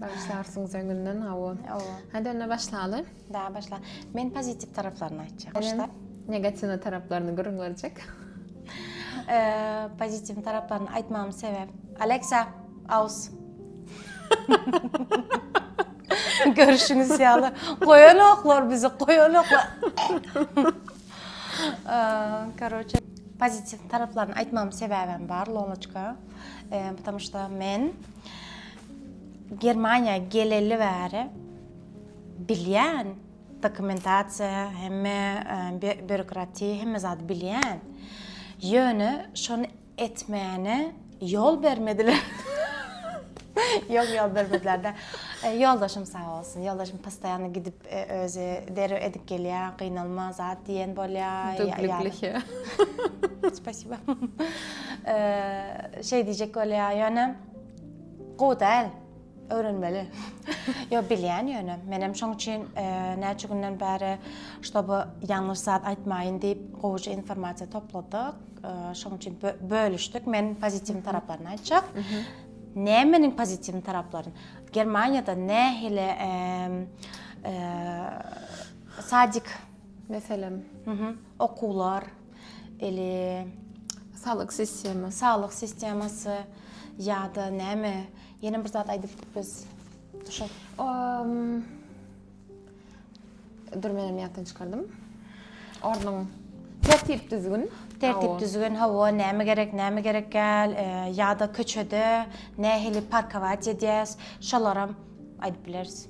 Başlarsyňyz öňünden hawa. Hawa. Hadi onda başlaly. Da başla. Men pozitiv taraflaryny aýtjak. Başla. Negatiw taraflaryny gürrüň berjek. Eee, pozitiv taraflaryny aýtmamyň sebäp. Alexa, aus. Görüşüňiz ýaly. Goýanoklar bizi, goýanoklar. Eee, karoçe, pozitiv taraflaryny aýtmamyň sebäbem bar, Lolaçka. Eee, bu tamyşda men Germaniýa geleli bäri bilýän dokumentasiýa hemme býurokratiýa hemme zady bilýän. Ýöne şony etmäne ýol bermediler. Ýok ýol bermediler-de. E, ýoldaşym sag bolsun. Ýoldaşym postoýanno gidip e, özi derew edip gelýär, gynalma zat diýen bolýar. Dubliklişe. Spasiba. E, şeý diýjek bolýar, ýöne Gowy däl. Öwrenmeli. Ýok, bilýän ýöne. Menem şoň üçin näçe günden bäri, ştoby ýalňyş zat aýtmaýyn diýip, gowuja informasiýa topladyk. Şoň üçin bölüşdik. Men pozitiw taraplaryny aýtjak. Nämeniň pozitiw taraplaryny? Germaniýada nähili sadik, meselem, okuwlar, Eli saglyk sistema, saglyk sistemasy ýa-da näme? Ýene bir zat aýdypdyk biz. Şo. Dur menem ýatdan çykardym. Ornuň tertip düzgün. Tertip düzgün, hawa, näme gerek, näme gerek gel, e, ýa-da köçede nähili parkować edýäs, şolaram aýdyp bileris.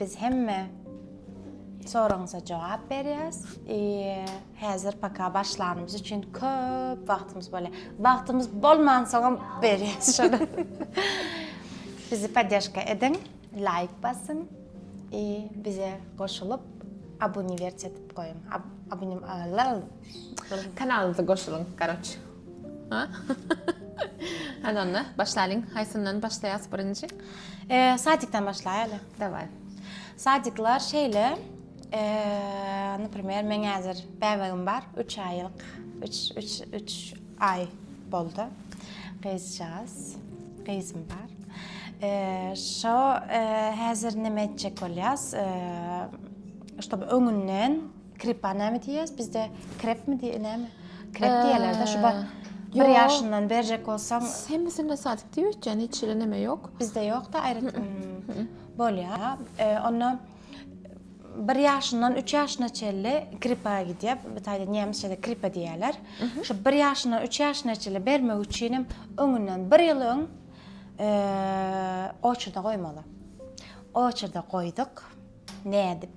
Biz hemme soragyňyza jogap berýäs. Häzir paka başlanymyz üçin köp wagtymyz bolýar. Wagtymyz bolmansoňam berýäs şony. Bizi poddežka ediň, laýk basyň i bize goşulyp abuniwersiýa edip goýuň. Abunim alal. Kanalymyza goşulyň, garoç. Hany onda başlalyň. Haýsyndan başlaýas birinji? Eee, sadikden başlaýaly. Daway. Sadiklar şeýle, eee, naprimer, meň häzir bäbegim bar, üç aýlyk, üç, üç, üç aý boldy. Gyzjagaz, gyzym bar. Eee, şo, eee, häzir näme etjek bolýas, eee, ştob öňünden, Krepa näme diýýäs bizde? Krepmi diýe näme? Krep diýerler-de şu bar. Bir Ýok. ýaşyndan berjek bolsaň, Hemmesinde sadyk diýip ötýän, hiç ýerde näme ýok. bizde ýok-da aýratyn. Bolýar. E, Onda bir ýaşyndan üç ýaşyna çenli krepa gidýär. Bu taýda nemisçede krepa diýýärler. Şu bir ýaşyndan üç ýaşyna çenli bermek üçin hem öňünden bir ýyl öň e, oçurda goýmaly. Oçurda goýduk. Nädip?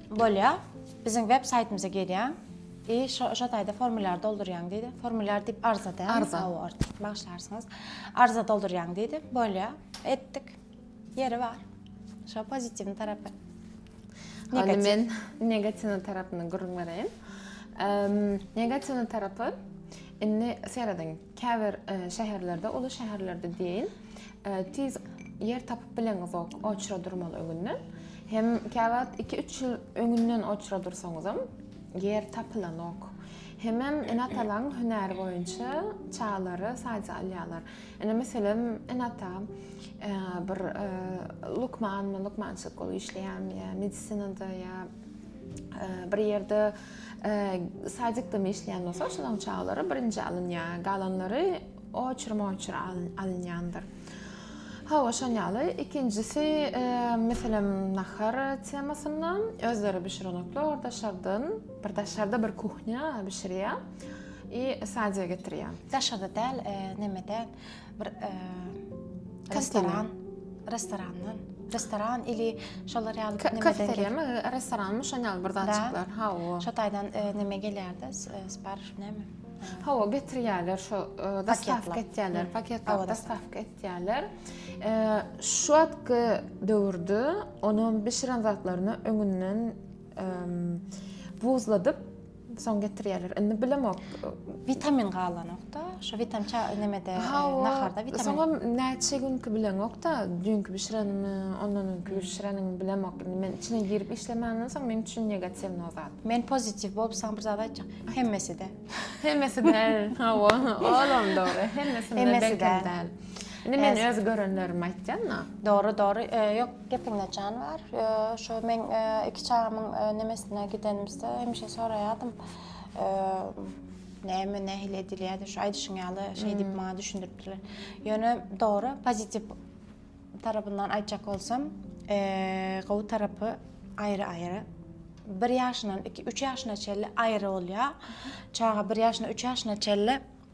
Bolýa. Biziň web saýtymyza gelýäň. I şo şo taýda formulýar doldurýaň diýdi. Formulýar diýip arza dä? Arza. Aw art. Bagyşlarsyňyz. Arza doldurýaň diýdi. Bolýa. Etdik. Ýeri bar. Şo pozitiwni tarapy. Negativ. Men negatiwni tarapyny gürrüň bereýin. Negatiwni tarapy indi serediň. Käbir şäherlerde, uly şäherlerde deýin, tiz ýer tapyp bileňizok oçra durmaly öňünden. Hem käwagt iki-üç ýyl öňünden oçra dursaňyzam, ýer tapylanok. Hemem ene-atalaň hünäri boýunça çagalary saýja alýarlar. Ine, meselem, ene-ata bir lukmanmy, lukmançylyk bolup işleýärmi ýa medisinada ýa bir ýerde Sadikdami işleýän bolsa, şolaň çaglary birinji alynýar, galanlary oçur-moçur alynýandyr. Hawa, şon ýaly. Ikinjisi, meselem, nahar temasynda özleri bişirenoklar orda şardan, bir daşarda bir kuhnýa bişirýär i sadia getirýär. Daşarda däl, nemede, bir e, restoran restorandan restoran ili şolar ýaly bir kafeteriýa mi restoran mi şoň ýaly bir zat çyklar ha o şo taýdan e, näme gelýärdi sipariş näme Ha, o getirýärler şu e, dostavka etýärler, paketler dostavka etýärler. E, şu wagtky döwürde onuň bişiren zatlaryny öňünden buzladyp Soň getirýärler. Indi bilemok. Witamin galanokda. Şu witam ça nemede naharda witamin. Soňam näçe günki bilemokda. Düňki bişirenimi, ondan öňki bişirenimi bilemok. Indi men içine girip işlemänden soň meniň üçin negatiwny o zat. Men pozitiw bolup saňa bir zat aýtjak. Hemmesi-de. Hemmesi-de. Hawa, olam dogry. Hemmesi-de belki däl. Indi men öz görenlerimi aýtýan-da. Dogry, dogry. Ýok, Gepiňde jan bar. Şu meň iki çagamyň nemesine gidenimizde hemişe soraýardym. Näme, nähili edilýärdi? Şu aýdyşyň ýaly şeý diýip maňa düşündiripdirler. Ýöne dogry, pozitiw tarapyndan aýtjak bolsam, gowy tarapy aýry-aýry. Bir ýaşyndan iki, üç ýaşyna çenli aýry bolýar. Çaga bir ýaşyndan üç ýaşyna çenli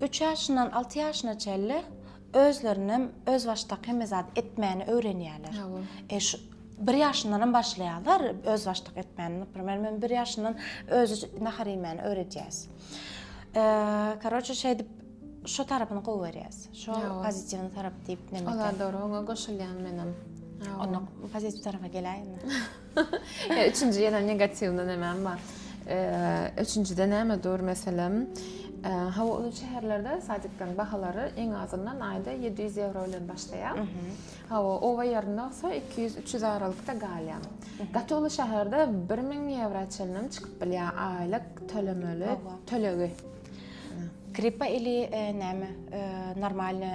Üç ýaşyndan alty ýaşyna çenli özlerinem özbaşdak hemme zady etmäni öwrenýärler. E, şu bir ýaşyndanam başlaýarlar özbaşdak etmäni. Naprimer, men bir ýaşyndan özi nahar iýmäni öwredýäs. E, karoçe, şeýdip şu tarapyny gowy görýäs. Şu pozitiwny tarap diýip nemekä. Olar dogry, oňa goşulýan menem. Onda pozitiw tarapa geläýinmi? He üçünji ýene negatiwny nämem bar. Üçünjide näme dur meselem? Hawa uly şäherlerde sadiklaryň bahalary iň azyndan aýda 700 ýewro bilen başlaýar. Hawa oba ýerinde bolsa 200-300 aralykda galýar. Gaty uly şäherde 1000 ýewro çenlem çykyp bilýär aýlyk tölemeli tölegi. Kripa ili näme normalny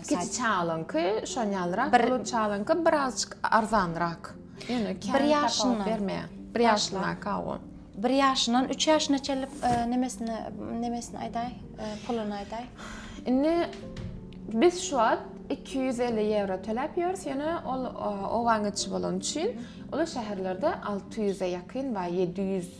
kiçi çalanky şonýalrak bir çalanky birazçyk arzanrak ýöne bir ýaşyny bermeýär bir ýaşyna kawo bir ýaşyndan üç ýaşyna çelip nemesini nemesini aýdaý puluny aýdaý indi biz şu wagt 250 ýewro töläp ýörüs ýöne ol owaň içi bolan üçin ol şäherlerde 600-e ýakyn we 700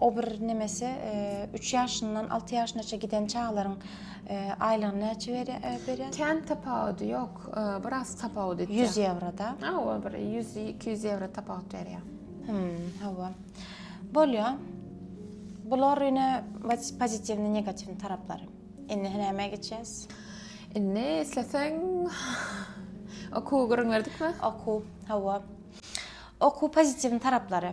O bir nemesi üç ýaşyndan alty ýaşynaça giden çagalaryň aýlygyny näçe berýär? Kän tapawudy ýok, biraz tapawut etýär. Ýüz ýewroda? Hawa, bir ýüz, iki ýüz ýewro tapawut berýär. Hawa. Bolýar. Bular ine pozitiwny, negatiwny taraplary. Indi nämä geçýäs? Indi isleseň okuw gürrüň berdikmi? Okuw, hawa. Okuw pozitiwny taraplary.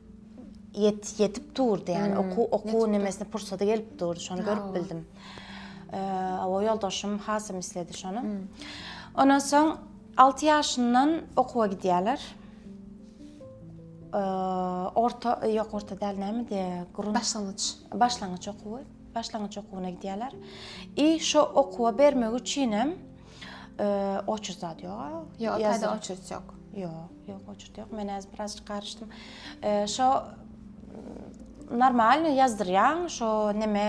Ýet, ýetip durdy ýani. Oku, oku nimesine pursady gelip durdy. Şony görüp bildim. Awa ýoldaşym hasam isledi şony. Ondan soň alty ýaşyndan okuwa gidýärler. Orta, ýok orta däl näme diýe, gurun. Başlangyç. Başlangyç okuwy. Başlangyç okuwyna gidýärler. I şo okuwa bermek üçin hem oçerzat ýoga. Ýok, taýda oçerz ýok. Ýok. Ýok oçert ýok men häzir biraz garyşdym. Şo normalny ýazdyrýaň şo neme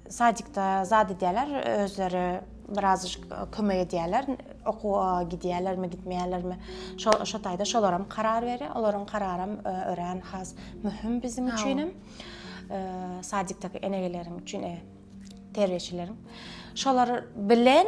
sadikda zat edýärler özleri biraz kömek edýärler okuwa gidýärlermi gitmeýärlermi şo şo taýda şolaram karar berýär olaryň kararam örän has möhüm biziň üçinem sadikdaki enegeleriň üçin terbiýeçileriň şolar bilen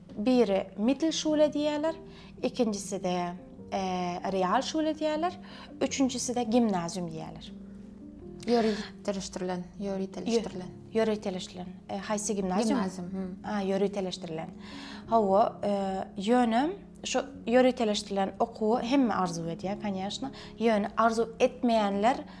Biri Mittelschule diýýärler, ikinjisi-de Realschule diýýärler, üçünjisi-de Gimnazium diýýärler. Ýöriteleşdirilen, ýöriteleşdirilen. Ýöriteleşdirilen. Haýsy gimnazium? Gimnazium, hü. A, ýöriteleşdirilen. Hawa, ýöne şu ýöriteleşdirilen okuwy hemme arzuw edýär, kanyýaşna. Ýöne arzuw etmeýänler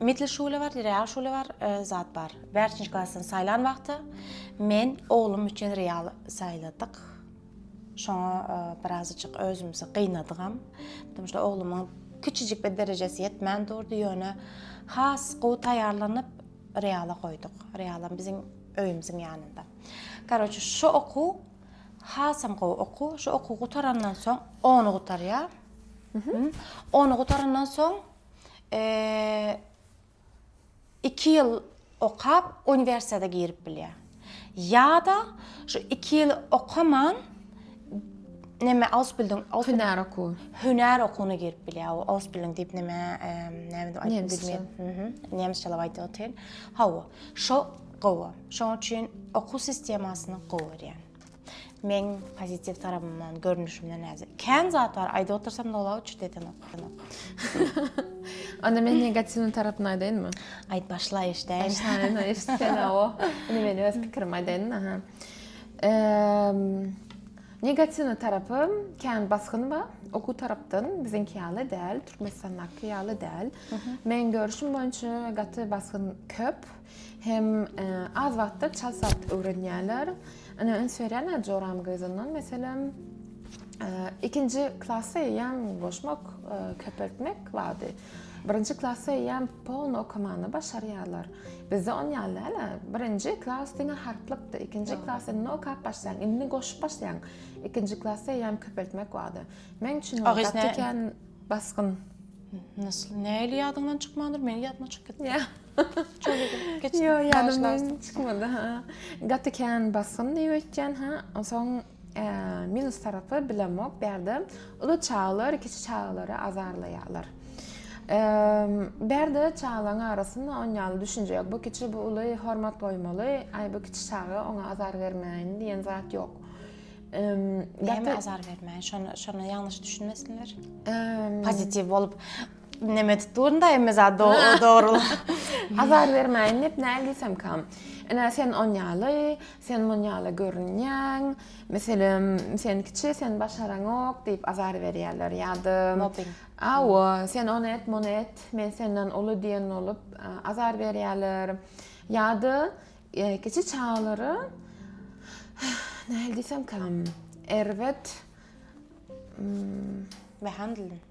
Mitli şule bar, real şule bar, zat bar. Bärçinji klasdan saýlan wagty men oglum üçin real saýladyk. Şoňa birazajyk özümizi gynadygam. Çünki şu oglumyň kiçijik bir derejesi ýetmän durdy, ýöne has gowy taýýarlanyp reala goýduk. Realam biziň öýümiziň ýanynda. Karoçe, şu okuw hasam gowy okuw. Şu okuw gutarandan soň, ony gutarýar. Ony gutarandan soň 2 ýyl okap uniwersitete girip bilýär. Ýa-da şu 2 ýyl okaman näme Ausbildung, hünär okuw. Hünär okuwyna girip bilýär. O Ausbildung diýip näme, näme diýip aýdyp bilmeýän. Mhm. Nemsçelap aýdýar otyr. Hawa, şo gowy. Şoň üçin okuw sistemasyny gowy görýän. Meň pozitiw tarabymdan, görnüşimden näzir. Kän zat bar, aýdyp otursam dola uçup detenok. Onda men negatiwny tarapyny aýdaýynmy? Aýt başla eşdäýin. Eşdäýin, eşit sen awo. Indi men öz pikirimi aýdaýyn, aha. Negatiwny tarapy kän basgyn bar. Okuw tarapdan biziňki ýaly däl, Türkmenistandaky ýaly däl. Meň görüşim boýunça gaty basgyn köp. Hem az wagtda çal saz öwrenýärler. Ine üns berýärler joram gyzyndan meselem ikinji klasa eýýäm goşmak, köpeltmek bardy. Birinji klasa eýýäm polny okamany başarýarlar. Bizde on ýaly däl-ä. Birinji klas diňe harplykdy. Ikinji klas indi okap başlaýaň, indi goşup başlaýaň. Ikinji klasa eýýäm köpeltmek bardy. Meň üçin ol gaty kän basgyn. Nähili ýadyňdan çykmandyr, meniň ýadyma çykyp gitdi. Ýo ýadymdan çykmady ha. Gaty kän basgyn diýip etýän ha. Onsoň minus tarapy bilemok bärde. Uly çagalar kiçi çagalara azarlaýarlar. Bärde çagalaryň arasynda on ýaly düşünje ýok. Bu kiçi bu uly hormat goýmaly. Aý bu kiçi çaga oňa azar bermäýin diýen zat ýok. Näme azar bermäýin? Şonu şonu ýalňyş düşünmesinler. Pozitiw bolup Neme tutdun da emme zat do dogruly. Azar bermäýin diýip näl diýsem kam. Ene sen on ýaly, sen mun ýaly görünýäň. Meselem, sen kiçi, sen başaraňok diýip azar berýärler ýa-da mobbing. Awa, sen ony et, muny et, men senden uly diýen bolup azar berýärler. Ýa-da kiçi çagalara näl diýsem kam. Erbet. Behandlin.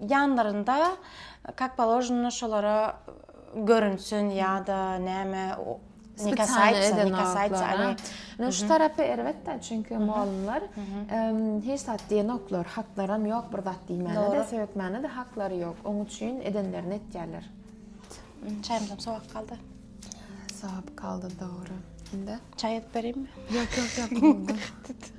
ýanlarynda kak položno şolara görünsün ýa-da näme Spesialne eden No şu tarapy erbetde çünki mugallymlar hiç zat diýen ýoklar, haklaram ýok bir zat diýmäne-de, söýetmäne-de haklary ýok. Oň üçin edenlerini etýärler. Çaýymyzam sowap galdy. Sowap galdy dogry. Indi çaý edip bereyimmi? Ýok, ýok, ýok.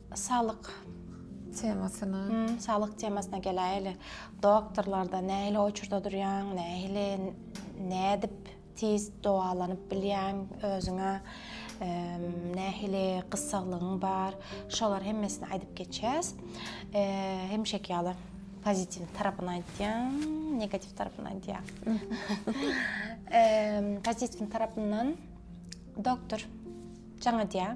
Saglyk temasyna. Saglyk temasyna geläýeli. Doktorlarda nähili oýçurda durýaň, nähili, nädip tiz dowalanyp bilýäň özüňe, nähili gyssaglygyň bar, şolar hemmesini aýdyp geçýäs. Hemişeki ýaly pozitiw tarapyny aýdýan, negatiw tarapyny aýdýan. Pozitiw tarapyndan doktor jaň edýär.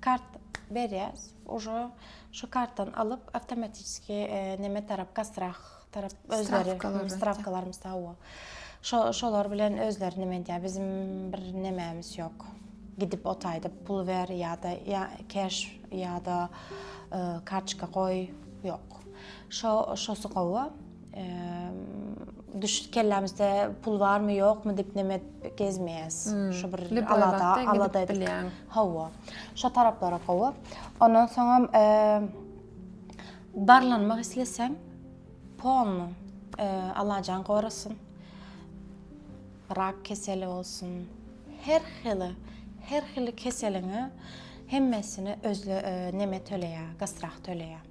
Kart berýäs. Uje şu kartdan alyp awtomatiski neme tarap gastrah tarap özleri strawkalarymyz hawa. Şo şolar bilen özleri neme edýär. Bizim bir nemämiz ýok. Gidip o taýda pul ber ýa-da ýa keş ýa-da kartçka goý ýok. Şo şosy gowy. Düş kellämizde pul barmy ýokmy diýip näme edip gezmeýäs. Şu bir alada, alada edip bilýän. Hawa. Şo taraplara gowy. Ondan soňam barlanmak isleseň, polny alajaň gorasyn. Rak keseli bolsun. Her hili, her hili keseliňe hemmesine özle näme töleýär, gastrah töleýär.